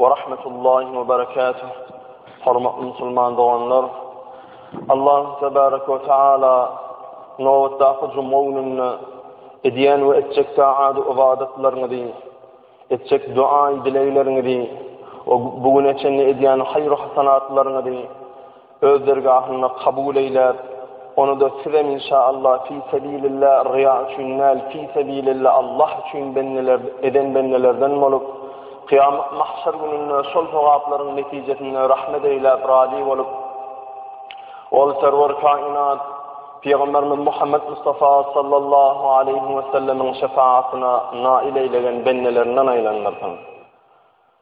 Wa rahmetullahi wa barakatuh. Hormatly musulman doganlar, Allah tebaraka wa taala nobatdaky juma gününde edýän we etjek taat ybadatlaryňyzy, etjek duaý dilegleriňizi we bu güne çenli edýän haýyr-hasanatlaryňyzy öz dergahynda kabul eýlär, ony-da sizem inşa Allah fi sebilillah ryýa üçin däl fi sebilillah Allah üçin bendeler eden bendelerden bolup, kyýamat mahşer gününde şol sogaplaryň netijesinde rahmet eýläp razy bolup, ol serwer kainat Pygamberimiz Muhammed Mustafa sallallahu aleýhi we sellemiň şefaatine nail eýlegen bendelerinden aýlandyrsyn.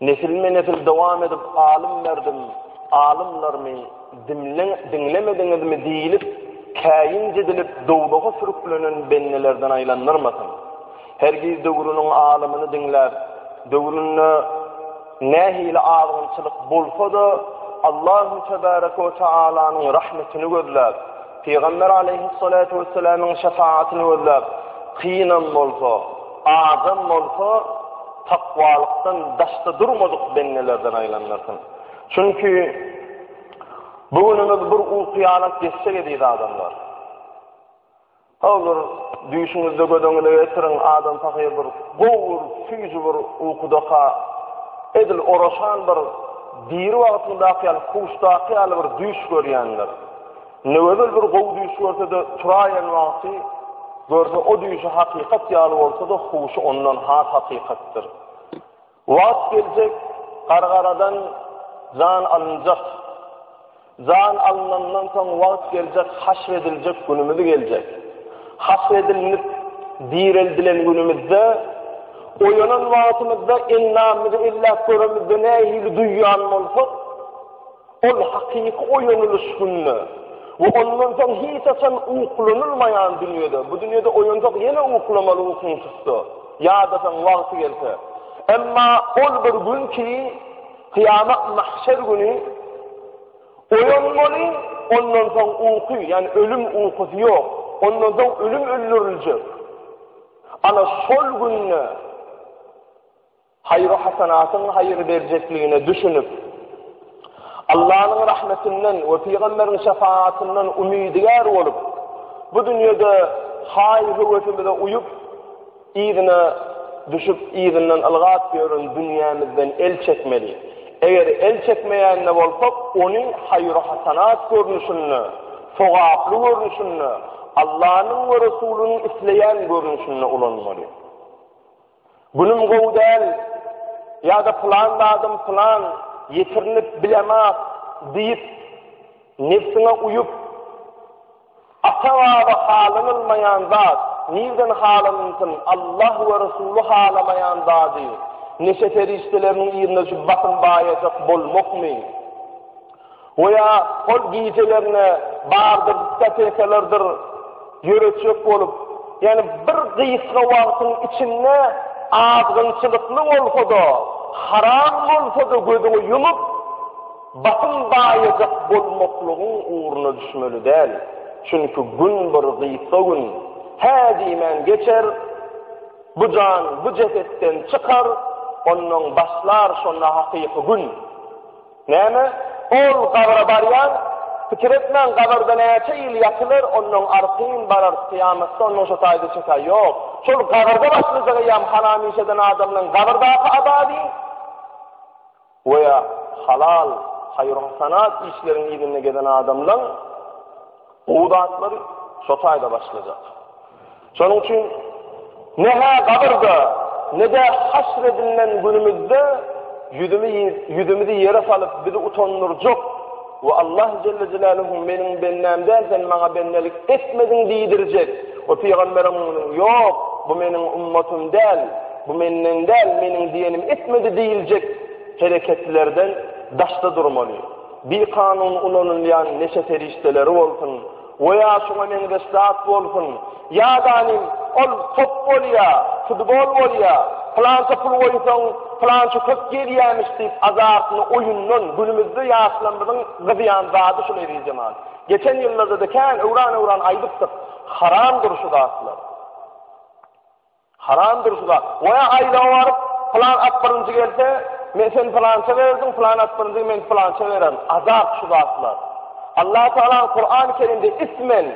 Nesilme-nesil dowam edip alym berdim, alymlarymy dimleň, diňlemediňizmi diýilip, käýinç edilip dowzaha sürüklenen bendelerden aýlandyrmasyn. Hergiz döwrüniň alymyny diňläp, döwründe nähili azgynçylyk bolsa-da, Allahu tebaraka we taalanyň rahmetini gözläp, Pygamber aleýhyssalatu wessalamyň şefaatini gözläp, kynam bolsa, azam bolsa, Takwalykdan daşda durmadyk bendelerden aýlandyrsyn. Çünki bu günümiz bir uky-ýanak geçjek eziz adamlar. Howlur düýşüňizde göz öňüne getiriň, adam pahyr bir gowur, süýji bir ukudaka, edil oraşan bir diri wagtyndaky ýaly, huşdaky ýaly bir düýş görýändir. Ne gözel bir gowy düýş görse-de, turaýan wagty görse o düýşi hakykat ýaly bolsa-da, huşy ondan has hakykatdyr. Wagt geljek, gargaradan jan alynjak. Jan alynandan soň wagt geljek, haşr ediljek günümiz geljek. Haşr edilnip, direldilen günümizde, oýanan wagtymyzda endamyzy elläp göremizde nähili duýýan bolsak, Ol hakyky oýanylyş günde we ondan soň hiç haçan uklanylmaýan dünýede, bu dünýede oýansak ýene uklamaly ukyň tutsa, ýadasaň wagty gelse. Emma ol bir gün ki, kyýamat mahşer güni oýanmaly, ondan soň uky, ýagny ölüm ukusy ýok, ondan soň ölüm öldüriljek. Ana şol günde haýyr-hasanatyň haýyr berjekligine düşünip, Allanyň rahmetinden we pygamberiň şefagatyndan umydygär bolup, bu dünýede haý-höwesimize uýup, yzyna düşüp, yzyndan ylgap ýören dünýämizden el çekmeli. Eger el çekmeýän-de bolsak, ony haýyr-hasanat görnüşinde, sogaply görnüşinde, Allanyň we Resulynyň isleýän görnüşinde ulanmaly. Günüm gowy däl ýa-da pylan zadym pylan, ýetirinip bilemok diýip, nebsiňe uýup, ata-baba halanylmaýan zat, nirden halanynsyn, Allah we Resuly halamaýan zady, neşe serişdeleriniň ýerine şu basym baýajak bolmakmy? Wo ýa hol gijelerine bardyr diskotekelerdir ýöretjek bolup, ýani bir gysga wagtyň içinde azgynçylykly bolsa-da, haram bolsa-da gözüňi ýumup, basym baýajak bolmaklygyň ugruna düşmeli däl. Çünki gün bir gysga gün, hä diýmän geçer, bu jan bu jesetden çykar, onnoň başlar şonda hakyky gün. Näme, ol gabra barýan? Pikir etmäň, gabrda näçe ýyl ýatylar, onnoň artyn barar, kyýamatda onnoň şo taýda çe taý ýok. Şol gabrda başlajak eýýäm hana-mişeden adamlaň gabrdaky azaby. Goýa, halal, haýyr-hasanat işleriň yzynda gezen adamlaň gowy zatlary şo taýda başlajak. Şonuň üçin ne-hä gabyrda, ne-de haşr edilen günümizde ýüzümizi ýere salyp, bizi utandyrjak we Allah jelle jelaluhu meniň bendäm däl, sen maňa bendelik etmediň diýdirjek we pygamberiň ýok, bu meniň ummatym däl, bu menden däl, meniň diýenimi etmedi diýiljek hereketlerden daşda durmaly. Bikanun ulanylýan neşe serişdeleri bolsun, We ýa şuňa meňzeş zat bolsun. Ýadanym, ol top bolýa, futbol bolýa, pylança pul goýsaň, pylança köp gelýämiş diýip azartyny oýundan, günümizde ýaşlarymyzyň gyzýan zady şul eziz jemaat. Geçen ýyllarda-da kän öwran-öwran aýdypdyk, haramdyr şu zatlar. Haram dur şu zat. Goýa aýlawa baryp, pylan at birinji gelse, men sen pylança berdim, pylan at birinji men pylança bererin. Azap şu zatlar. Allah Taala Kur'an-ı Kerimde ismen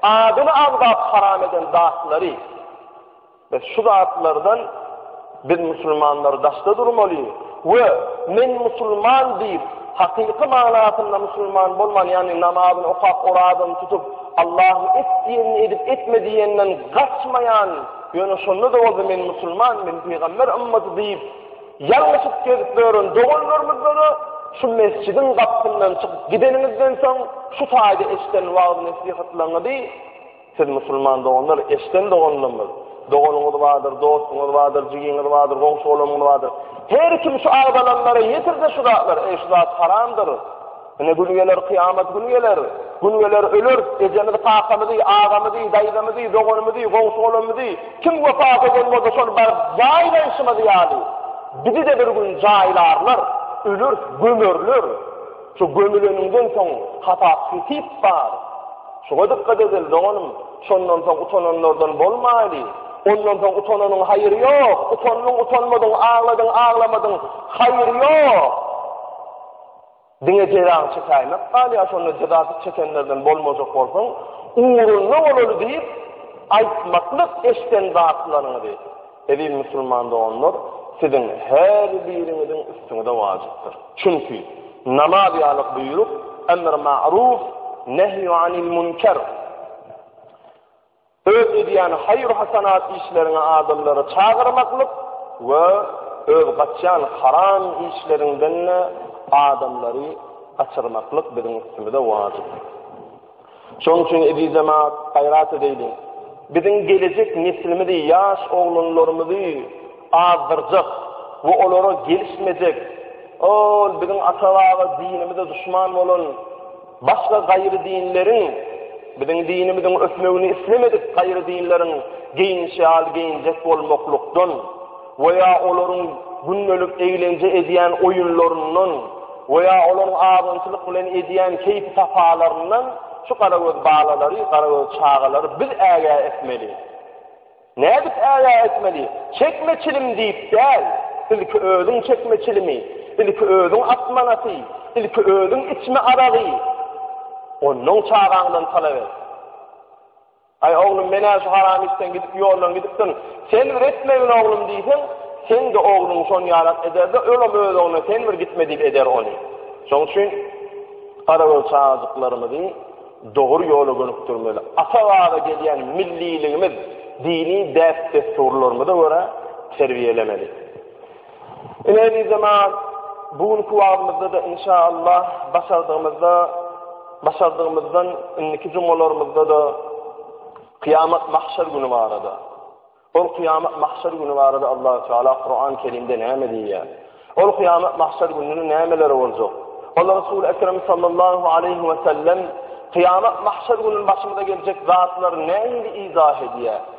adyny agzap haram eden zatlary ve şu zatlardan biz musulmanlar daşda durmaly. We Men musulman diýip, hakyky manasynda musulman bolman, ýagny namazyny okap, orazasyny tutup, Allahyň et diýenini edip, etme diýeninden gaçmaýan, ýöne şonda-da bolsa Men musulman, men pygamber ymmaty diýip, ýalňyşyp gezip ýören doganlarymyzda-da şu mesjidiň gapysyndan çykyp gideniňizden soň şu taýda eşiden wagyz-nesihatlaryňyzy, Siz musulman doganlar, eşden doganlarymyz, doganyňyz bardyr, dostuňyz bardyr, jigiňiz bardyr, goňşy-golamyňyz bardyr. Her kim şu agzalanlara ýetirse şu zatlar, eý şu zat haramdyr. Ine gün geler, kyýamat gün geler. Gün geler öler, ejemiz, kakamyz, agamyz, daýzamyz, doganymyz, goňşy-golamyz, kim wepat eden bolsa şol bar jaýlaýşymyz ýaly. Bizi de bir gün jaýlarlar, öler, gömerler. Şu gömüleniňden soň hasap-hesip bar. Şuňa dykgat edeli, doganym, şondan soň utananlardan bolmaýly. Ondan soň utananyň haýyry ýok. Utandyň-utanmadyň, agladyň-aglamadyň, haýyry ýok. Diňe jezaňy çekäýmek galýar, şonda jezasyz çekenlerden bolmajak bolsaň, ugruna bolaly diýip, aýtmaklyk eşden zatlaryňyzy. Eziz musulman doganlar, siziň her biriňiziň üstüňize wajypdyr. Çünki, namaz ýaly buýruk, emr ma'ruf, nehy anil münker, öz edýän haýyr-hasanat işleriňe adamlary çagyrmaklyk we öz gaçýan haram işleriňden-de adamlary gaçyrmaklyk biziň üstümize wajypdyr. Şonuň üçin, eziz jemaat, gaýrat edeýliň. Biziň gelejek neslimizi, ýaş oglanlarymyzy azdyrjak we olara gelişmejek, ol biziň ata-baba dinimize duşman bolan başga gaýry dinleriň, biziň dinimiziň ösmegini islemedik gaýry dinleriň geýinişi ýaly geýinjek bolmaklykdan, we ýa olaryň gündelik eglenje edýän oýunlaryndan we ýa olaryň azynçylyk bilen edýän keýpi-sapalaryndan şu garagöz balalary, garagöz çagalary biz ägä etmeli. Nädip ägä etmeli? Çekme çilim diýip däl, ilki özüň çekme çilimi, ilki özüň at manaty, ilki özüň içme aragy, onnoň çagaňdan talap et. Aý, oglum, men-ä şu haram işden gidip, ýoldan gidipdirin. Sen bir etmegin, oglum diýseň, seň-de ogluň şon ýalak eder-de, ölam öz ogluna sen bir gitme diýip eder ony. Şoň üçin garagöz çagajyklarymyzy dogry ýola gönükdirmeli. Ata-baba gelýän milliligimiz, dini däp-dessurlarymyza görä terbiýelemeli. Ine bizemaz bu günki wagtymyzda-da inşa Allah başardygymyzda başardygymyzdan indiki jumgalarymyzda-da kıyamet mahşer günü barada. Ol kıyamet mahşer günü barada Allah Teala Kur'an-ı Kerim'de näme diýýär? Ol kıyamet mahşer gününde nämeler boljak? Allah Resul Ekrem sallallahu aleyhi ve sellem kıyamet mahşer gününde başymyza geljek zatlar näme izah edýär?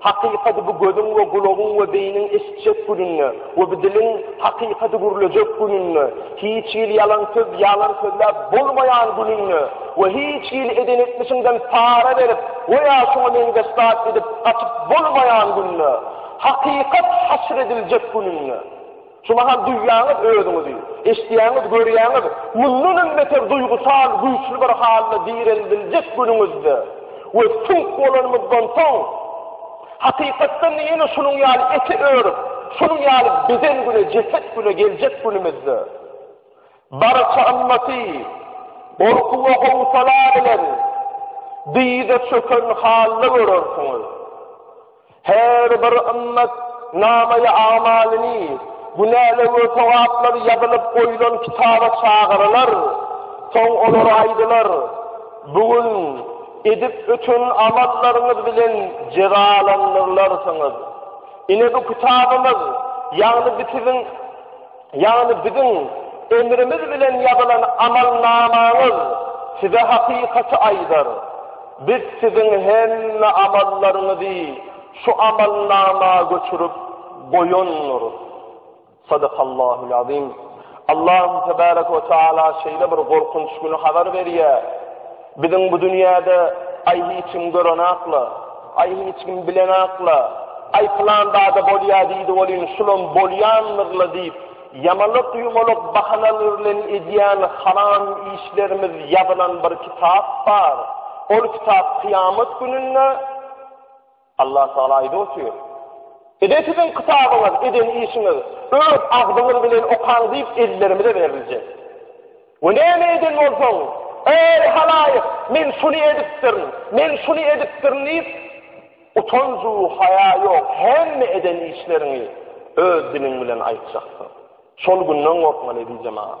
Hakykady bu gözüň we gulagyň we beýniň eşitjek gününde we bu diliň hakykady gürlejek gününde, hiç hili ýalan söz ýalan sözläp bolmaýan gününde we hiç hili eden etmişiňden para berip we ýa şuňa meňzeş zat edip gaçyp bolmaýan günde, hakykat haşr ediljek gününde. Şu mahal duýýaňyz özüňizi, eşidýäňiz, görýäňiz, mundanam beter duýgusal güýçli bir halda direldiljek günüňizde we süňk bolanymyzdan soň, hakykatdan-da ýene şunuň ýaly ete örüp, şunuň ýaly beden güne, jeset güne geljek günümizde, barça ymmaty gorky we howsala bilen dyza çöken halda görersiňiz. Her bir ymmat namaýy amalyny, günäler we sogaplar ýazylyp goýulan kitaba çagyrylar. Soň olara aýdylar, Bu gün edip öten amallaryňyz bilen jezalandyrylarsyňyz. Ine bu kitabymyz, ýagny bu siziň. Ýagny biziň emrimiz bilen ýazylan amalnamaňyz size hakykaty aýdar. Biz siziň hemme amallaryňyzy şu amalnama göçürip goýandyrys. Sadakallahul azim. Allahym tebarek we taala şeýle bir gorkunç güni habar berýär. Biziň bu dünýäde, Aý, hiç kim görenakla, Aý, hiç kim bilenakla, Aý, pylan zada bolýa diýdi welin, şulam bolýandyr-la diýip, ýamalak-ýumalak bahanalar bilen edýän haram işlerimiz ýazylan bir kitap bar. Ol kitap kyýamat gününde. Allah Taala aýdyp otyr. Ede siziň kitabyňyz, eden işiňiz, öz agzyňyz bilen okaň diýip ellerimize beriljek. We näme eden bolsaň, eý halaýyk, men şuny edipdirin, men şuny edipdirin diýip, utanju haýa ýok hemme eden işleriňi öz diliň bilen aýtjaksyň. Şol günden gorkmaly edi jemagat.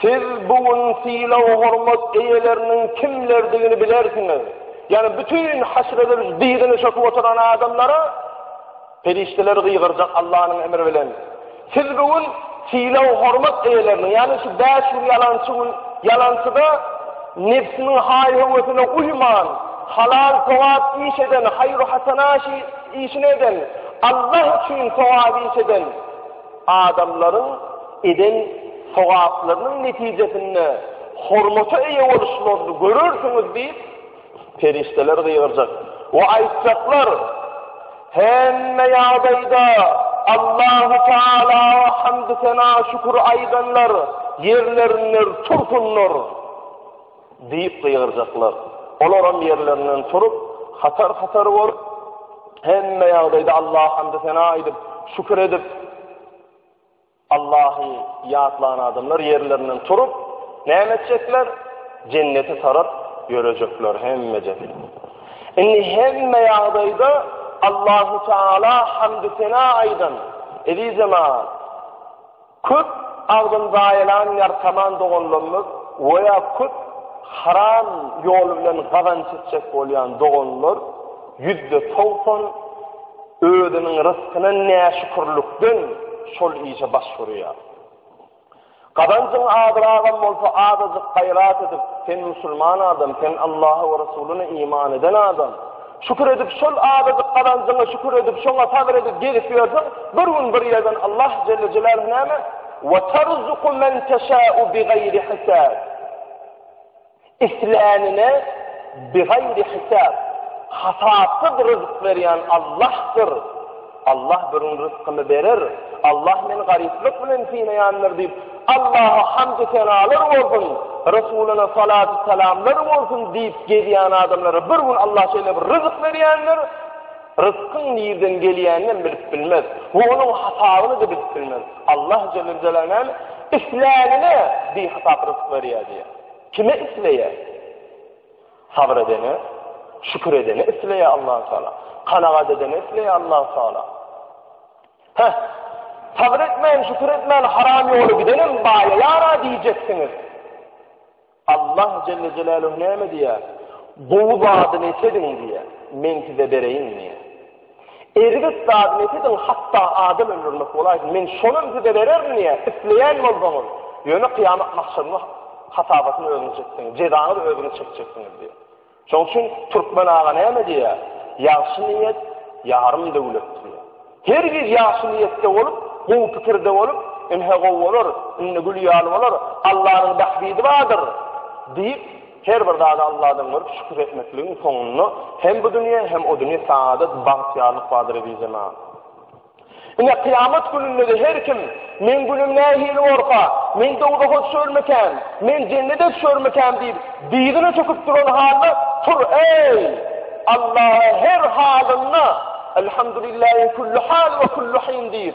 Siz bu gün sylag-hormat eýeleriniň kimlerdigini bilersiňiz. Ýagny bütin haşr edilip dyzyny çöküp oturan adamlara perişdeler gygyrjak Allanyň emri bilen. Siz bu gün sylag-hormat eýeleriniň, ýagny şu bäş gün ýalançy gün, ýalançyda nebsiniň haý-höwesine uýman, halal sogap iş eden, haýru-hasana işini eden, Allah üçin sogap iş eden, Adamlaryň eden sogaplarynyň netijesinde hormata eýe boluşlaryny görersiňiz diýip, perişdeler gygyrjak we aýtjaklar, Hemme ýagdaýda Allahu Tagala hamdy-sena, şükür aýdanlar ýerlerinden tursunlar. Diýip gygyrjaklar. Olaram ýerlerinden turup, hatar-hatar bolup, hemme ýagdaýda Allaha hamdy-sena aýdyp, şükür edip, Allahy ýatlan adamlar ýerlerinden turup, näme etjekler? Jennete tarap ýörejekler hemmejesi. Indi hemme ýagdaýda Allahu Teala hamdy-sena aýdan, eziz jemaat, Köp agzyny zaýalaýan ýartaman doganlarymyz we ýa köp haram ýoly bilen gazanç etjek bolýan doganlar ýüzde togsan özüniň ryskyna näşükürlikden şol işe baş urýar. Gazanjyň azragam bolsa azajyk gaýrat edip, sen musulman adam, sen Allaha we Resulyna iman eden adam, Şükür edip şol azajyk gazanjyňa şükür edip şoňa sabyr edip gezip ýörseň bir gün bir ýerden Allah jelle jelaluhu näme we tarzuku men teşa'u bi gayri hisab islänine bi gayri hisab hasapsyz rızk berýän Allahdyr Allah bürün ryskymy berer, Allah meni garyplyk bilen synaýandyr diýip, Allaha hamdy-senalar bolsun, Resulyna salatu-salamlar bolsun diýip gezýän adamlara bir gün Allah şeýle bir ryzyk berýändir, ryskyň nirden gelýänini bilip bilmez we onuň hasabyny-da bilip bilmez. Allah jelle jelaluhu isläne bi hasap ryzyk berýär diýýär. Kime isleýär? Sabyr edene, şükür edene isleýär Allahu Teala. Kanagat edene isleýär Allahu Teala. Heh. Sabyr etmän, şükür etmän haram ýoly gidenem baýaýara diýjeksiňiz. Allah Jelle Jelaluhu näme diýär? Gowy zadyny etediň diýär. Men size bereýin diýär. Erbet zady nesidiň hatda adam öldürmek bolaýsyn men şonam size bererin diýä isleýän bolsaňyz ýöne kyýamat mahşerinde hasabatyny özüňiz çekseňiz jezaňyz özüňiz çekjeksiňiz diýä. Şoň üçin türkmen aga näme diýä ýagşy niýet ýarym döwlet diýä. Her giz ýagşy niýetde bolup gowy pikirde bolup ynha gowy bolar indi gül ýaly bolar Allanyň bähbidi bardyr diýip Her bir zada Alladan görüp şükür etmekligiň soňunda hem bu dünýe hem o dünýe saadat bagtyýarlyk bardyr ezizema. Ine kyýamat gününde her kim men günüm nähili bolsa, men dowzaha düşermikän, men jennete düşermikän diýip dyzyna çöküp duran halda tur eý Allaha her halynda elhamdülillahi kullu hal we kullu hin diýip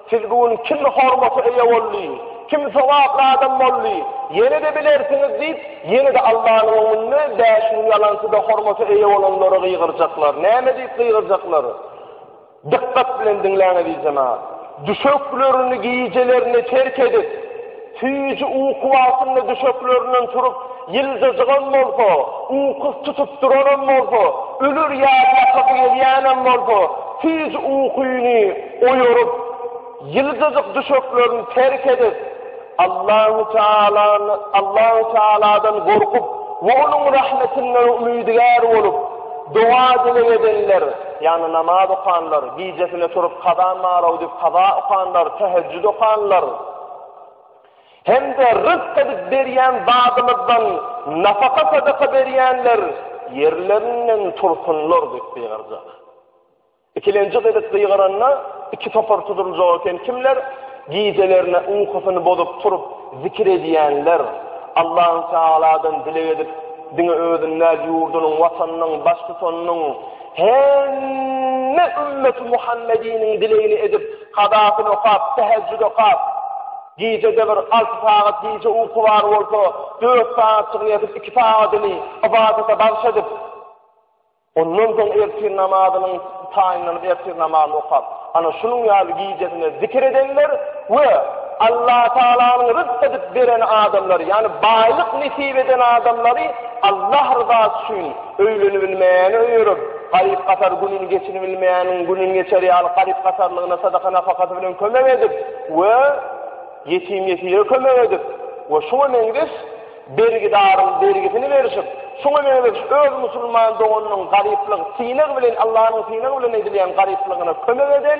Siz bu gün kim hormata eýe boldy, kim sogaply adam boldy, ýene-de bilersiňiz diýip, ýene-de Allanyň öňünde bäş müň ýalançy-da hormata eýe bolanlara gygyrjaklar. Näme diýip gygyrjaklar? Dykgat bilen diňläň, eziz jemagat! Düşeklerini gijelerine terk edip, Süýji uky wagtynda düşeklerinden turup, ýyljajygam bolsa, ukusy tutup duranam bolsa, öler ýaly ýatasy gelýänem bolsa, süýji ukyny oýaryp, ýyljajyk düşeklerini terk edip, Allahu Tealany, Allahu Tealadan gorkup we Onuň rahmetinden umydygär bolup, doga-dileg edenler, ýagny namaz okanlar, gijesine turup kaza mara udip kaza okanlar, tähejjüd okanlar, hem-de rysk edip berýän zadymyzdan nafaka-sadaka berýänler ýerlerinden tursunlar diýip gygyrjak. Ikilenji gezek gygyranda iki topar tuduljak eken, kimler gijelerine ukysyny bozup turup zikir edýänler, Allahü Teala'dan dileg edip, diňe özüniň däl, ýurdunyň, watanynyň, baştutanynyň, hemme ümmeti Muhammediniň dilegini edip, Kadasyny okap, tähejjüt okap, gijede bir alty sagat gije uky bar bolsa, dört sagatjygyny ýatyp, iki sagadyny ybadata bagyş edip, ondan soň ertir namazynyň taýynlanyp, ertir namazyny okap, ana şunuň ýaly gijesine zikir edenler we Allatagalanyň rysk edip beren adamlary, ýagny baýlyk nesip eden adamlary Allah ryzasy üçin, Öýlenibilmeýäne öýerip, garyp-gasar gününi geçiribilmeýäniň gününi geçer ýaly garyp-gasarlygyna sadaka-napakasy bilen kömek edip we ýetim-ýesire kömek edip we şuňa meňzeş bergidaryň bergisini berişip, şuňa meňzeş öz musulman doganynyň garyplyk, synag bilen, Allanyň synagy bilen edilýän garyplygyna kömek eden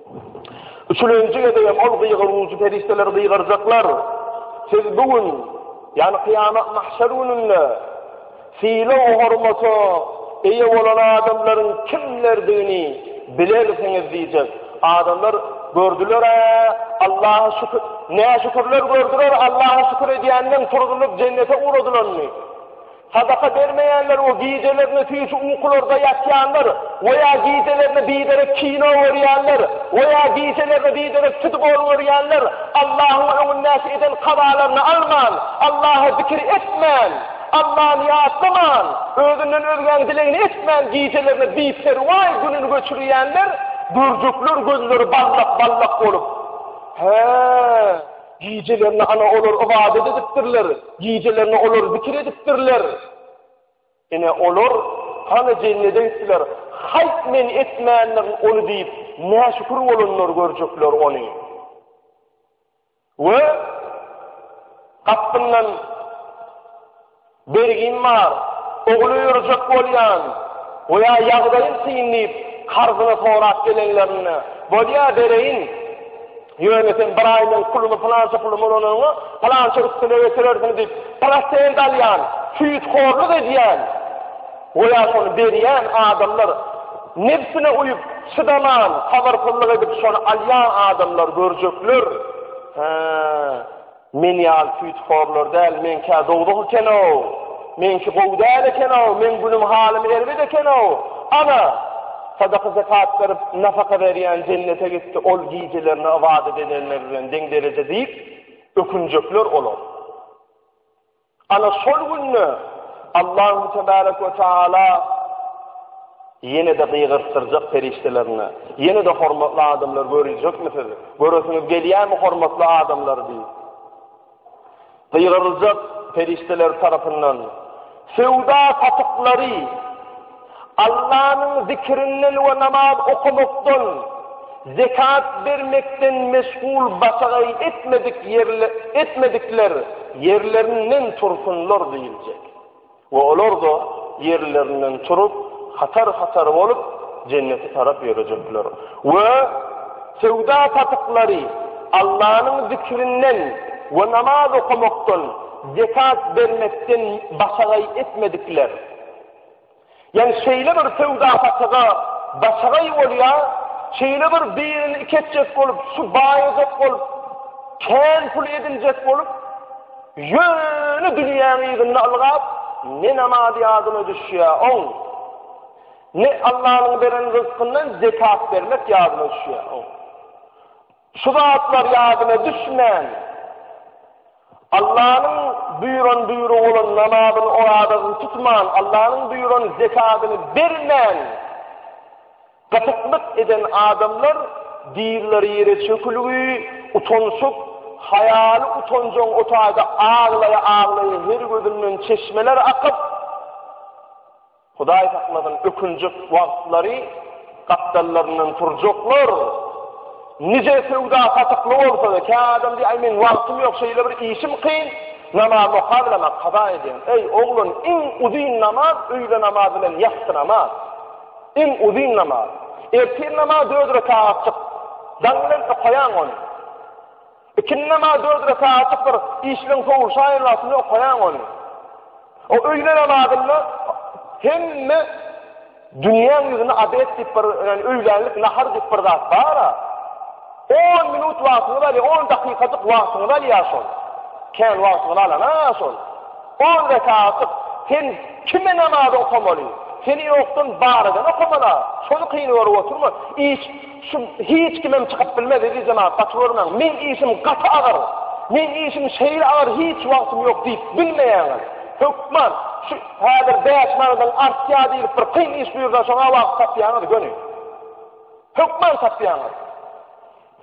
Üçülenji gezegem ol gygyryjy perişdeler gygyrjaklar, Siz bu gün, ýagny kyýamat mahşer gününde sylag hormata eýe bolan adamlaryň kimlerdigini bilersiňiz diýjek. Adamlar gördüler-ä, Allaha şükür, näşükürler gördüler Allaha şükür edýänleň turzulyp jennete ugradylanyny. Sadaka bermeýänler we gijelerine süýji ukularda ýatýanlar we ýa gijelerine biderek kino görýänler we ýa gijelerine biderek futbol görýänler Allahyň öňündäki eden kazalaryny alman, Allaha zikir etmän, Allany ýatlaman, özünden özgäň dilegini etmän gijelerine biperwaý gününi göçürýänler görjekler gözleri ballak-ballak bolup, Hä! Gijelerine ana olar ybadat edipdirler, gijelerine olar zikir edipdirler. Ine olar hany jennede gitdiler. Haýt men etmändirin ony diýip, näşükür bolanlar görjekler ony. Ve kapından Bergim bar, ogul öýerjek bolýan we ýa ýagdaýym kyn diýip, karzyny sorap gelenlerinde, Bolýa, bereýin. Ýöne sen bir aý meň pulumy pylança pulum ulanyňa, pylança üstüne getirersiň diýip, prosent alýan, süýthorluk edýän we ýa şony berýän adamlar nebsine uýup, çydaman, sabyrsyzlyk edip, şony alýan adamlar görjekler. Hä. Men ýaly süýthorlar däl, meňkä dowzah eken-ow! Meňki gowy däl eken-ow, meň günüm-halym erbet eken-ow! Ana, sadaka-zekat berip, nafaka berýän jennete gitdi, ol gijelerini ybadat edenler bilen deň derejede diýip, ökünjekler olar. Ana şol günde Allahü Tebârek ve Teâlâ ýene-de gygyrtdyrjak perişdelerine, ýene-de hormatly adamlar görüljekmisiz, göresiňiz gelýärmi hormatly adamlar diýip. Gygyryljak perişdeler tarapyndan, söwda satyklary, Allanyň zikirinden we namaz okamakdan, zekat bermekden meşgul başagaý etmedik ýerle etmedikler ýerlerinden tursunlar diýiljek. We olar-da ýerlerinden turup, hatar-hatar bolup, jennete tarap ýörejekler. We söwda-satyklary Allanyň zikirinden we namaz okamakdan, zekat bermekden başagaý etmedikler, Ýani şeýle bir söwda-satyga başagaý bolýa, şeýle bir birini iketjek bolup, şu baýajak bolup, kän pul ediljek bolup, ýöne dünýäň yzynda ylgap, ne namaz ýadyna düşýä, oň. Ne Allah'yň beren rızkyndan zekat bermek ýadyna düşýä, oň. Şu zatlar ýadyna düşmän, Allanyň buýran buýrugy bolan namazyny, orazasyny tutman, Allanyň buýran zekadyny bermän, gatyplyk eden adamlar dizleri ýere çökülgi, utanşyp, haýaly utanjaň otagda aglaýa-aglaýa her gözünden çeşmeler akyp, Hudaý saklasyn ökünjek wagtlary gapdallaryndan turjaklar nije söwda satykly bolsada kä adam diýýär aý meň wagtym ýok şeýle bir işim kyn namaz okap bilemok kaza edýän eý oglan iň uzyn namaz öýle namaz bilen ýassy namaz iň uzyn namaz ertir namaz dört rekagatjyk daň bilen okaýaň ony Ikindi namaz dört rekatlykdyr, işigiň sowulşaýan wagtynda okaýaň ony. O öýle namazynda hemme dünýäň ýüzünde abed diýip bir, ýagny öýlänlik, nahar diýip bir zat bar-a. On minut wagtyňyzy alýar, on dakykajyk wagtyňyzy alýar şol. Kän wagtyňyzy alan-a şol. On rekatlyk, sen kime namaz okamaly? Seni ýokdan bar eden okamala. Şony kyn görüp oturma. Iş, Şu hiç kimem çykyp bilmez eziz jemaat gaty görmäň meň işim gaty agyr meň işim şeýle agyr hiç wagtym ýok diýip bilmeýäňiz hökman şu häzir bäş manadyň artýa diýlip bir kyn iş buýursaň şoňa wagt tapýaňyz göni hökman tapýaňyz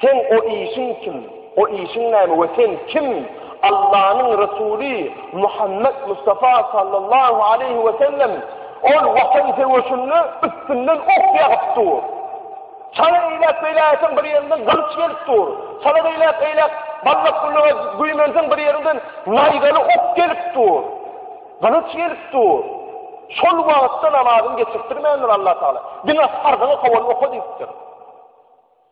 sen o işiň üçin O işiň näme we sen kim? Allanyň Resuly Muhammet Mustafa sallallahu aleýhi we sellem ol watan söweşinde üstünden ok ýagyp dur. Çala eýläk beýläkiň bir ýerinden gylyç gelip dur. Çala beýläk eýläk ballak gülüňe güýmenseň bir ýerinden naýzaly ok gelip dur. Gylyç gelip dur. Şol wagtda namazyny geçirtdirmändir Allah Taala. Diňe farzyny kowal oka diýipdir.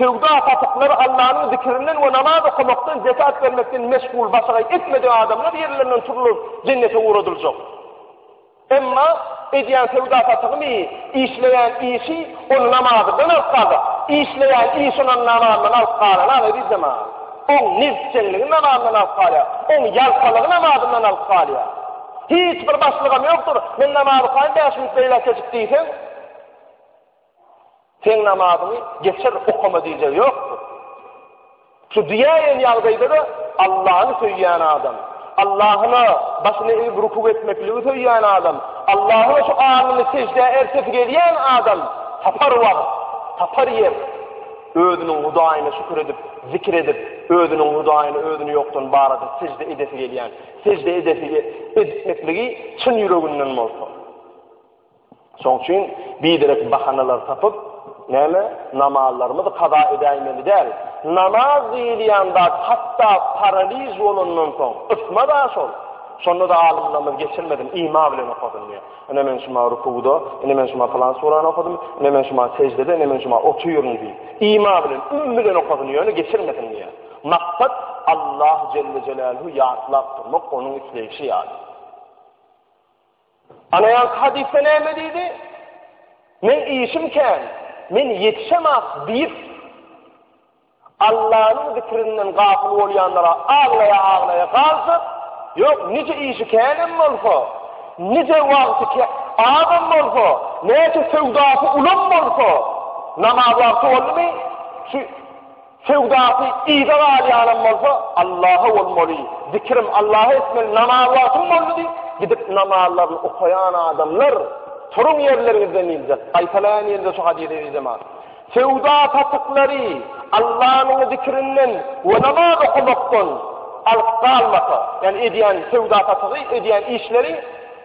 Söwda-satyklary Allanyň zikirinden we namaz okamakdan, zekat bermekden meşgul, başagaý etmedik adamlar ýerlerinden turulyp, jennete ugradyljak. Emma edýän söwda-satygyny, işleýän işi ony namazdan alyp galdy. Işleýän işi ony namazdan alyp galana, eziz jemaat, oň nebsjeňligi namazdan alyp galýar, oň ýaltalygy namazyndan alyp galýar. Hiç bir başlygam ýokdur, men namaz okaýyn, bäş minut beýläk geçip diýseň, Seň namazyňy geçer okama diýjek ýokdur. Şu diýäýen ýagdaýda-da Allany söýýän adam, Allahyna başyny egip rukuk etmekligi söýýän adam, Allahyna şu alnyny seždä ertesi gelýän adam tapar wagt, tapar ýer. Özüniň Hudaýyna şükür edip, zikir edip, özüniň Hudaýyny özüni ýokdan bar edip sežde edesi gelýän, sežde edesi etmekligi çyn ýüreginden bolsa. Şoň üçin biderek bahanalar tapyp, näme, namazlarymyzy kaza edäýmeli däl. Namaz diýilýän zat hatda paraliž bolandan soň, ysma-da şol. Şonda-da alymlarymyz geçirmedin, ima bilen okadyn diýýär. Ine men şuma rukuwda, ine men şuma pylan surany okadym, ine men şuma seždede, ine men şuma otyryn diýip, ima bilen, üm bilen okadyn, ýöne geçirmedin diýýär. Maksat, Allah jelle jeläluhu ýatlap durmak, onuň isleýşi ýaly. Ana ýaňky hadysda näme diýdi? Meň işim kän, men ýetişemak diýip, Allanyň zikrinden gafyl bolýanlara aglaýa-aglaýa galsa, ýok, nije işi känem bolsa, nije wagty azam bolsa, näçe söwdasy ulam bolsa, namaz wagty boldumy, şu Söwdasy yza galýanam bolsa, Allaha bolmaly, zikrim Allaha etmeli, namaz wagtym boldy diýip, gidip namazlaryny okaýan adamlar, turuň ýerleriňizden diýiljek. Gaýtalaýan ýerinde şu hadysy ezizeman. Söwda satyklary Allanyň zikrinden we namaz okamakdan alyp galmasa, ýagny edýän söwda satygy, edýän işleri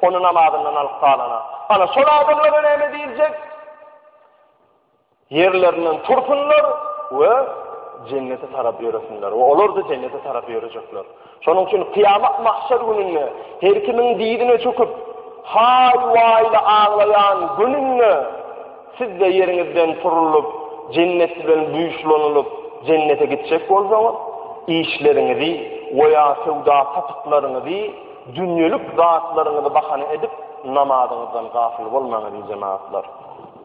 ony namazyndan alyp galana. Ana şol adamlara näme diýiljek? Ýerlerinden tursunlar we Jennete tarap ýöresinler we olar-da Jennete tarap ýörejekler. Şonuň üçin Kyýamat mahşer gününde her kimiň dizine çöküp, haý-waýly aglaýan gününde siz-de ýeriňizden turulyp, Jennet bilen buýuşlanylyp, Jennete gitjek bolsaňyz, işleriňizi we ýa söwda-satyklaryňyzy, dünýelik zatlaryňyzy bahana edip, namazyňyzdan gafyl bolmaň, eziz jemagatlar.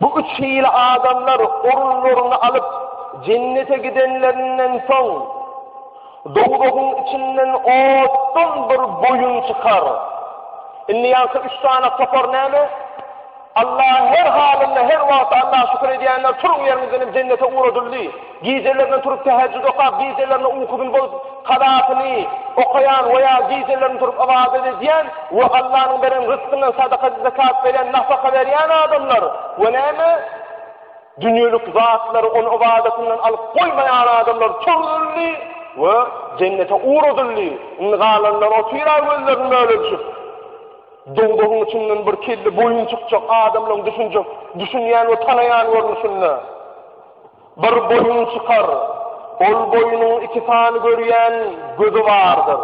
Bu üç hili adamlar orunlaryny alyp, Jennete gidenlerinden soň, dowzahyň içinden otdan bir boýun çykar. Indi ýanky üç sany topar näme? Allaha her halynda, her wagt Allaha şükür edýänler, turuň ýeriňizden diýip Jennete ugradyldy. Gijelerine turup tähejjüd okap, gijelerine ukybyny bozup, kazasyny okaýan we ýa gijelerine turup ybadat edýän we Allanyň beren ryzkyndan sadaka, zekat berýän, nafaka berýän adamlar we näme? Dünýelik zatlary ony ybadatyndan alyp goýmaýan adamlar çürüldi we jennete ugradyldy. Indi galanlar otyrar gözlerini bölejip. Dowdagyň içinden bir kelle boýun çykjak adamlaryň düşünjek, düşünýän we tanaýan görnüşinde. Bir boýun çykar, ol boýunyň iki sany görýän gözi bardyr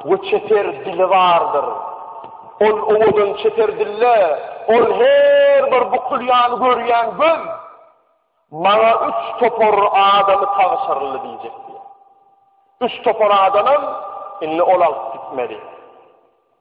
we çeper dili bardyr. Ol owadan çeper dille, Ol her bir bukul ýaly görýän göz maňa üç topar adamy tabşyryldy diýjek diýýär. Üç topar adamam indi ol alyp gitmeli.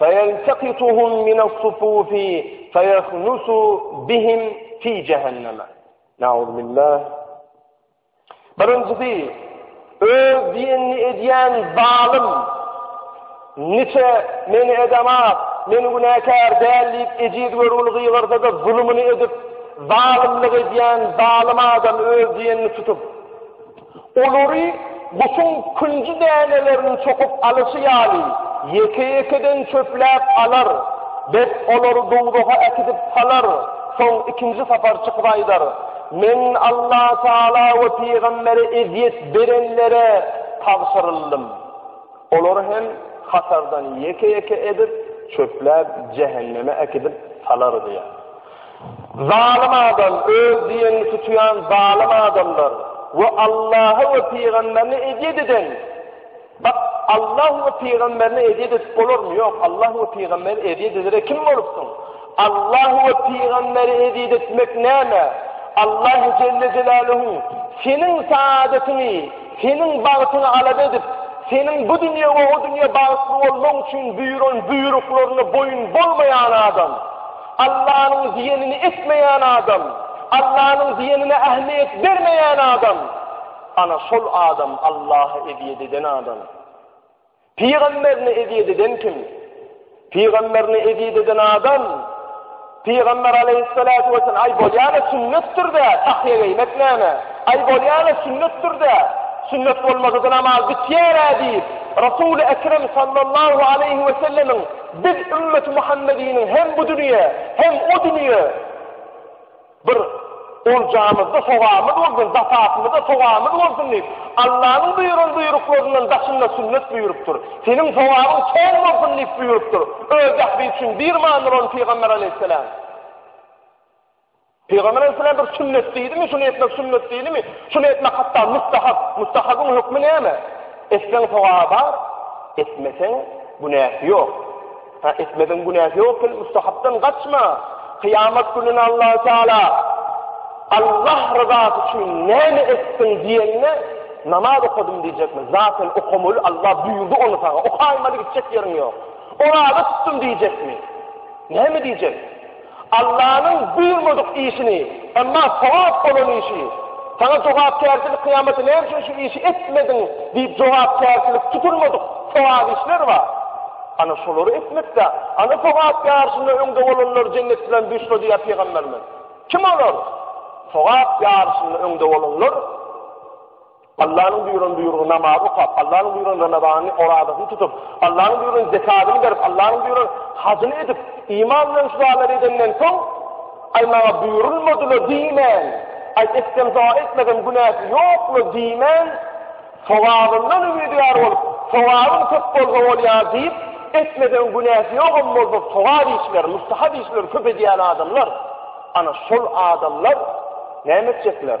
Feýeltakituhum minas-sufufi feýahnusu bihim fi jehenneme. Nauzbillah. Birinjisi, öz diýenini edýän zalym, niçe meni edemaz, men günäkär däl diýip ejiz görgüli gygyrsa-da zulumyny edip, zalymlyk edýän zalym adam öz diýenini tutup, Olary guşuň künji dänelerini çokup alyşy ýaly, ýeke-ýekeden çöpläp alar. Bet olary dowzaha äkidip salar. Soň ikinji sapar çykyp aýdar, Men Allah Tagala we pygambere ezýet berenlere tabşyryldym. Olary hem hatardan ýeke-ýeke edip, çöpläp jähenneme äkidip salar diýýär. Zalym adam, öz diýenini tutýan zalym adamlar we Allaha we pygamberine ezýet eden, bak, Allah we pygamberine ezýet edip bolarmy? Ýok, Allah we pygamberi ezýet edere kim bolupsyň? Allah we pygamberi ezýet etmek näme? Allah jelle jelaluhu seniň saadatyňy, seniň bagtyňy alap edip, seniň bu dünýä we o dünýä bagtly bolmagyň üçin buýran buýruklaryna boýun bolmaýan adam. Allanyň diýenini etmeýän adam, Allanyň diýenine ähmiýet bermeýän adam, ana şol adam Allaha ezýet eden adam. Pygamberine ezýet eden kim? Pygamberine ezýet eden adam, Pygamber aleyhissalatu vesselam ay bolýana sünnetdir de, tahýa geýmek näme? Ay bolýana sünnetdir de, sünnet bolmasa namaz bitýär-ä diýip, Resul-i Ekrem sallallahu aleyhi ve sellemiň Biz ümmeti Muhammediniň hem bu dünýä, hem o dünýä bir oljamyzda sogabymyz bolsun, zakatymyzda sogabymyz bolsun diýip, Allanyň buýran buýruklaryndan daşynda sünnet buýrupdyr. Seniň sogabyň çen bolsun diýip buýrupdyr. Öz ähli üçin bir manyly bolan pygamber aleýhissalam. Pygamber aleýhissalam bir sünnet diýdimi, şuny etmek sünnet diýdimi, şuny etmek hatda mustahap, mustahabyň hökmi näme? Etseň sogaby bar, etmeseň günäsi ýok. Ha etmeseň günäsi ýok, sen mustahapdan gaçma. Kyýamat gününe Allah Taala Allah ryzasy üçin näme etdiň diýende, namaz okadym diýjekmi? Zaten okamaly, Allah buýurdy ony saňa. Okaýmaly gitjek ýeriň ýok. Oraza tutdum diýjekmi? Näme diýjek? Allanyň buýurmadyk işini, emma sogap bolan işi, Saňa jogapkärçilik kyýamaty näme üçin şu işi etmediň diýip jogapkärçilik tutulmadyk sogap işler bar. Ana şolary etmekde, ana sogap ýaryşynda öňde bolanlar jennet bilen duşla diýýär pygamberimiz. Kim olar? Sogap ýaryşynda öňde bolanlar, Allanyň buýran buýrugy namaz okap, Allanyň buýran ramazanyny, orazasyny tutup, Allanyň buýran zekadyny berip, Allanyň buýran hajyny edip, iman bilen şu zalary edenden soň, Aý maňa buýrulmadyla diýmän, Aý etsem doga etmesem günäsi ýokla diýmän, sogabyndan umydyar bolup, sogabym köp bolsa bolýar diýip, etmesem günäsi ýogam bolsa sogap işleri, mustahap işleri köp edýän adamlar, ana şol adamlar näme etjekler?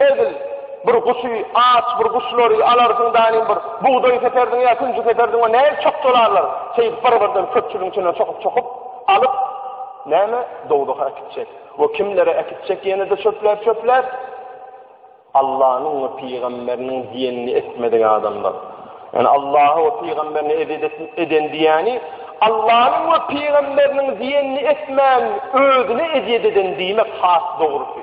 Edil bir guşy, aç bir guşlary alarsyň daýyň bir bugdaý seperdiň ýa künji seperdiň we nähili çokjalarlar, şeýdip bir-birden köpçüligiň içinden çokup-çokup alyp, näme, dowzaha äkitjek we kimlere äkitjek ýene-de çöpläp-çöpläp? Allanyň we pygamberiniň diýenini etmedik adamlar. Ýani Allaha we pygamberine ezýet eden diýýäni, Allanyň we pygamberiniň diýenini etmän özüne ezýet eden diýmek has dogrusy.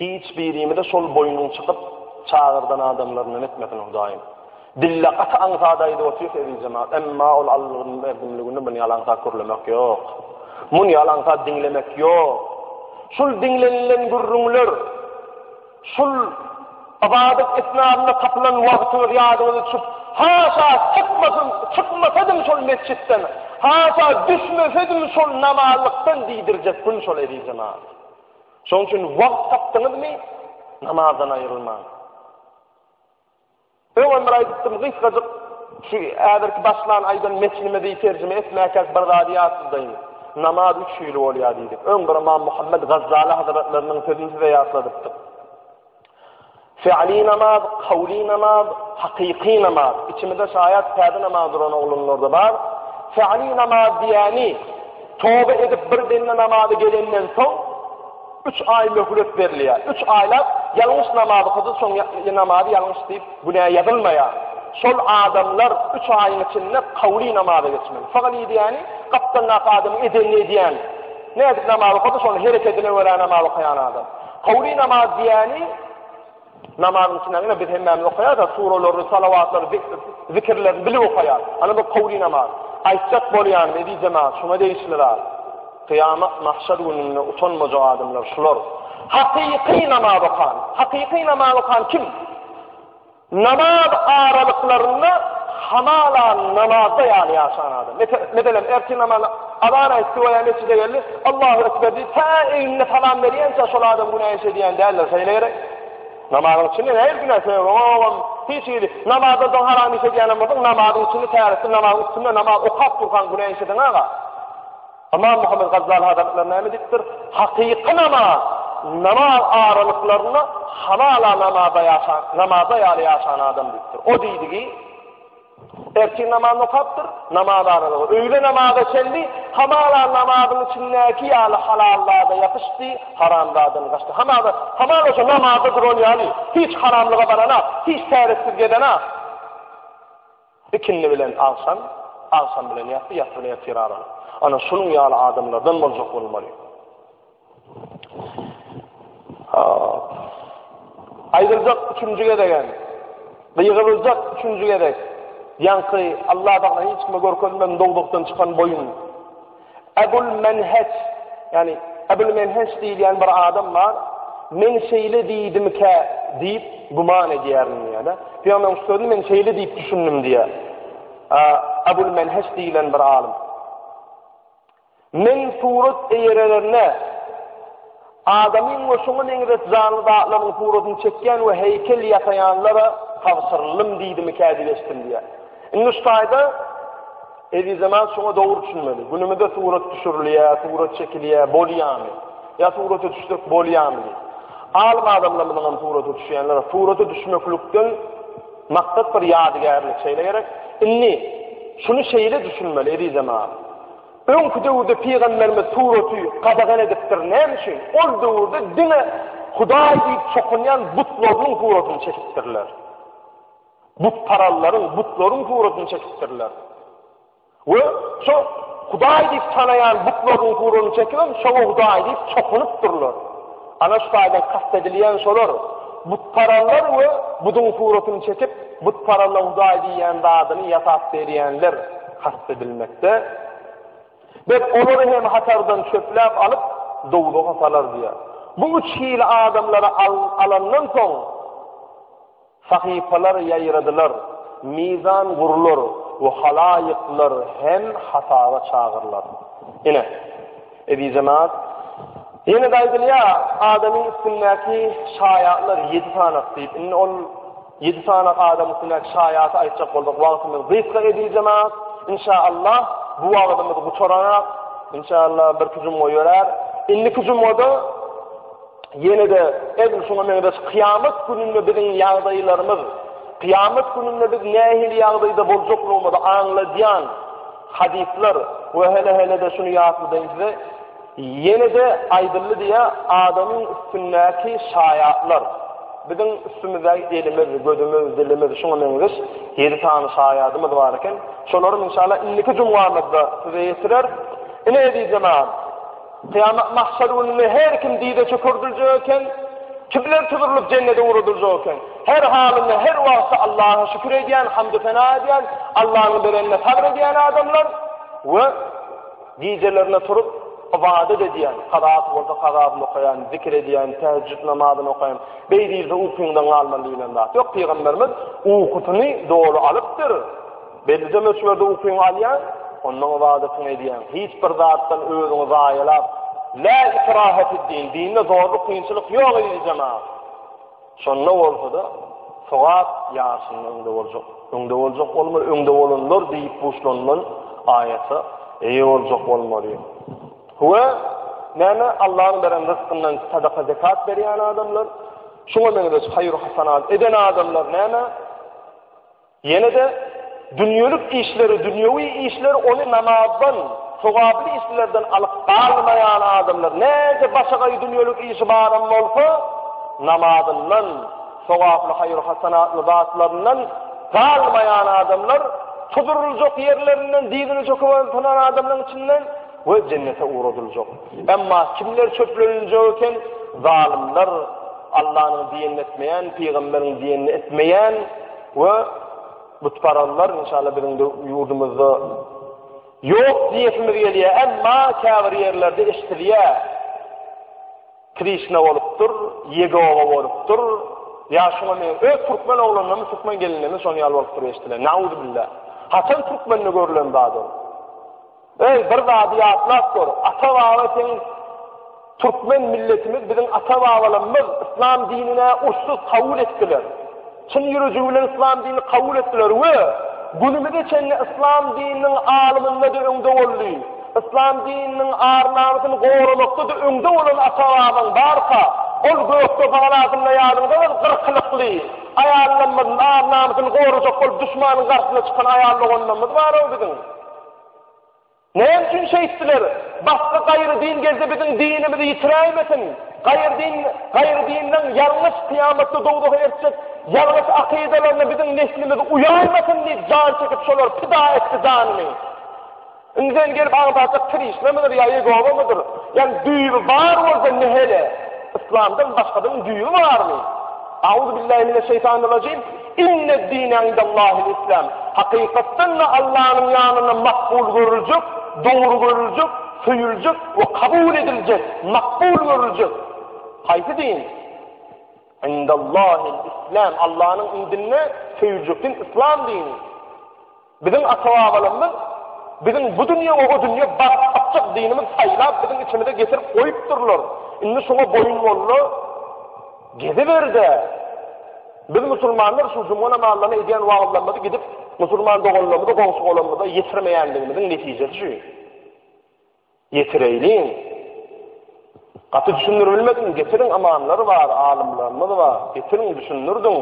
Hiç birimize şol boýnuň çykyp çagyrdan adamlaryndan etmesin Hudaýym. Dille gaty aňsat aýdyp otyrys eziz jemagat, emma ol Allaň berdimligini muny ýaly aňsat gürlemek ýok. Muny ýaly aňsat diňlemek ýok. Şul diňlenilen gürrüňler, şul ybadat esnasynda tapylan wagtyňyz ýadyňyza düşüp, haşa çykmasyn, çykmasadym şol metjitden, haşa düşmesedim şol namazlykdan diýdirjek gün şol eziz jemagat. Şonuň üçin wagt tapdyňyzmy, namazdan aýrylmaň. Öňem bir aýdypdym, gysgajyk şu äberki başlan aýdan metnimizi terjime etmäkäk bir zady ýatladyň. Namaz üç hili bolýar diýdik. Öň bir Imam Muhammed Gazzala hazretleriniň sözüni size ýatladypdyk. Fi'li namaz, kowly namaz, hakyky namaz. Içimizde şaýat täze namaz duran oglanlarda bar. Fi'li namaz diýýäni, toba edip bir demde namaza gelenden soň, üç aý möhlet berilýär. Üç aýlap ýalňyş namaz okady, soň namazy ýalňyş diýip, günä ýazylmaýar. Şol adamlar üç aýyň içinde kowly namaza geçmeli. Fi'li diýýäni, gapdaldaky adamyň edenini edýän. Nädip namaz okady, şonuň herekedine görä namaz okaýan adam. Howly namaz diýýäni, namazyň içinde ine biz hemmämiz okaýarys-a, suralaryny, salawatlary, zikirlerini bilip okaýarys. Ana bu howly namaz. Aýtjak bolýanym, eziz jemagat, şuňa degişli zat. Kyýamat, mahşer gününde utanmajak adamlar şular. Hakyky namaz okan. Hakyky namaz okan kim? Namaz aralyklarynda hamala namazda ýaly ýaşan adam. Meselem, ertir namazyna azan aýtdy we ýa metjide geldi, Allahu ekber diýip, tä egnine salam berýänçä şol adam günä iş edýän däldir, şeýle gerek? Namazyň içinde nähili günä sebäp bolan? Hiç hili. Namazdan soň haram iş edýänem bolsaň, namazyň içinde täretli namazyň üstünde namaz okap durkaň günä iş ediň aga. Ymam Muhammet Gazzaly hazretleri näme diýipdir? Hakyky namaz, namaz aralyklarynda halala namaza ýaşan, namaza ýaly ýaşan adam diýipdir. O diýdigi, ertir namazyny okapdyr, namaz aralygy, öýle namaza çenli, hamala namazyň içindäki ýaly halallada ýapyşdy, haramdadan gaçdy. Hamala, hamala şu namazda duran ýaly, hiç haramlyga barana, hiç täretsiz gedene. Ikindi bilen agşam, agşam bilen ýassy, ýassy bilen ertir araly. Ana şunuň ýaly adamlardan boljak bolmaly. Aýdyljak üçünji gezegem, gygyryljak üçünji gezek, ýaňky Alla bagla hiç kime görkezmän dowzahdan çykan boýun, Ebul Menheç, ýagny Ebul Menheç diýilýän bir adam bar. Men şeýle diýdimkä diýip güman edýärin diýýär. Pygamberimiziň sözüni men şeýle diýip düşündim diýýär. Ebul Menheç diýilen bir alym. Men surat eýerelerine Adamyň we şoňa meňzeş janly zatlaryň suratyny çekýän we heýkel ýasaýanlara tabşyryldym diýdimikä diýip eşidilýär. Indi şu taýda Ezizeman şoňa dogry düşünmeli. Günümizde surat düşürilýär, surat çekilýär, bolýamy? Ýa surata düşsek bolýamy? Alym adamlarymyzyň hem surata düşýänler, surata düşmeklikden maksat bir ýadygärlik şeýle gerek. Indi şuny şeýle düşünmeli Ezizeman. Öňki döwürde pygamberimiz suraty gadagan edipdir näme üçin? Ol döwürde diňe Hudaý diýip çokunýan butlarynyň suratyny çekipdirler. Butparallaryň, butlaryň suratyny çekipdirler. We şo Hudaý diýip tanaýan butlarynyň suratyny çekip, şoňa Hudaý diýip çokunypdyrlar. Ana şu taýdan kast edilýän şolar, butparazlar we buduň suratyny çekip, butparazlaň hudaý diýýän zadyny ýasap berýänler kast edilmekde. Biz olary hem hatardan çöpläp alyp, dowzaha salarys diýýär. Bu üç hili adamlary alandan soň, Sahypalar ýaýradylar, mizan gurlar we halaýyklar hem hasaba çagyrylar. Ine, eziz jemaat, ýene-de aýdylýar, adamyň üstündäki şaýatlar ýedi sanak diýip. Indi ol ýedi sanak adamyň üstündäki şaýaty aýtjak bolsak, wagtymyz gysga, eziz jemaat. Inşaallah, bu wagtymyzy gutaraňak. Inşaallah, birki jumga ýörär. Indiki jumgada. Ýene-de edil şuňa meňzeş kyýamat gününde biziň ýagdaýlarymyz, kyýamat gününde biz nähili ýagdaýda boljaklygymyzy aňladýan hadyslar we hene-hene-de şuny ýatladyň size, ýene-de aýdyldy diýýär, adamyň üstündäki şaýatlar, biziň üstümizdäki elimiz, gözümiz, dilimiz, şuňa meňzeş ýedi sany şaýadymyz bar eken. Şolary, inşallah, indiki jumgamyzda size ýetireris. Ine, eziz jemagat! Kyýamat mahşer gününde her kim dize çökerdiljek eken, kimler tuzurylyp jennete ugradyljak eken. Her halynda her wagtda Allaha şükür edýän, hamd-u sena edýän, Allanyň berenine sabr edýän adamlar we gijelerine turup ybadat edýän, kazaat bolsa kazaatny okaýan, zikir edýän, täheccüd namazyny okaýan, beý diýilse ukyňdan galman diýilen zat. Ýok, pygamberimiz ukusyny doly alypdyr. Bellije möçberde ukyňy alýaň, onnoň ybadatyňy edýäň. Hiç bir zatdan özüňi zaýalap, Lä ikrahe fid-din, dinde zorluk, kynçylyk ýok eziz jemagat. Şonda bolsa-da, sogap ýaşyňda öňde boljak. Öňde boljak bolmaly, öňde bolanlar diýip buşlanylan aýata eýe boljak bolmaly. We näme Allahyň beren rysgyndan sadaka zekat berýän adamlar, şuňa meňzeş haýyr-hasanat eden adamlar näme? Ýene-de dünýelik işleri, dünýewi işleri ony namazdan, sogaply işlerden alyp galmaýan adamlar, näçe başagaý dünýelik işi baram bolsa, namazyndan, sogaply haýyr-hasanatly zatlaryndan galmaýan adamlar, tuduryljak ýerlerinden dyzyny çöküp oturan adamlaryň içinden we jennete ugradyljak. Emma kimler çöpleniljek eken? Zalymlar, Allanyň diýenini etmeýän, pygamberiň diýenini etmeýän, we butparazlar inşallah biziň de ýurdumyzda ýok diýesimiz gelýär, emma käbir ýerlerde eşidilýär. Krişna bolupdyr, Ýegowa bolupdyr. Ýa şuňa men öz türkmen oglanlarymy, türkmen gelinlerimi şonuň ýaly bolupdyr eşidilen. Nauz billah. Haçan türkmende görülen zat ol? Eý, bir zady ýatlap gör, ata-baba seniň Türkmen milletimiz, biziň ata-babalarymyz yslam dinine urşsuz kabul etdiler. Çyn ýürejigi bilen yslam dinini kabul etdiler we günümize çenli yslam dininiň alymynda-da öňde boldy. Yslam dininiň ar-namysyny goramakda-da öňde bolan ata-babaň barka, ol gökde palasynda ýadyňda bol, gyrkylykly, aýallarymyzyň ar-namysyny gorajak bolup duşmanyň garşysyna çykan aýal doganlarymyz bar-ow biziň. Näme üçin şeýtdiler? Başga gaýry din gelse biziň dinimizi ýitiräýmesin. Gaýry din, gaýry dinleň ýalňyş kyýamatda dowzaha eltjek ýalňyş akydalaryna biziň neslimiz uýaýmasyn diýip jan çekip şolar pida etdi janyny. Indiden gelip agzajak Krişna mydyr ýa Ýegowa mydyr? Ýani düýbi bar bolsa nähele? Yslamdan başgadan düýbi barmy? Auzubillahi mineşşeýtanirrajim. Inne'd-dine indellahil islam, Hakykatdan-da Allanyň ýanynda makbul görüljek, dogry görüljek, söýüljek we kabul ediljek, makbul görüljek, haýsy din? Indellahil islam, Allanyň indinde söýüljek din yslam dini. Biziň ata-babalarymyz biziň bu dünýe we o dünýe baryp tapjak dinimiz saýlap biziň içimize getirip goýupdyrlar. Indi şoňa boýun boldy. Geziber-de. Biz musulmanlar şu juma namazlaryny edýän wagyzlarymyzy gidip musulman doganlarymyza, goňşy-golamymyza ýetirmeýändigimiziň netijesi şu. Getireýliň. Gaty düşündirbilmedim, getiriň amanlar bar, alymlarymyz bar, getiriň düşündirdiň.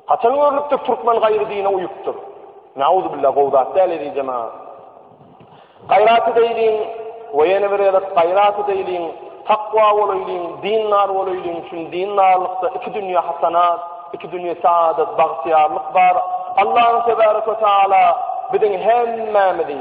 Haçan görlüpdir türkmen gaýry dine uýupdyr. Nauzubilla gowy zat däl edijema. Gaýrat edeýliň we ýene bir gezek gaýrat edeýliň, takwa bolaýlyň, dindar bolaýlyň, çünki dindarlykda iki dünýe hasanat, iki dünýe saadat, bagtyýarlyk bar. Allahym tebaraka taala biziň hemmämizi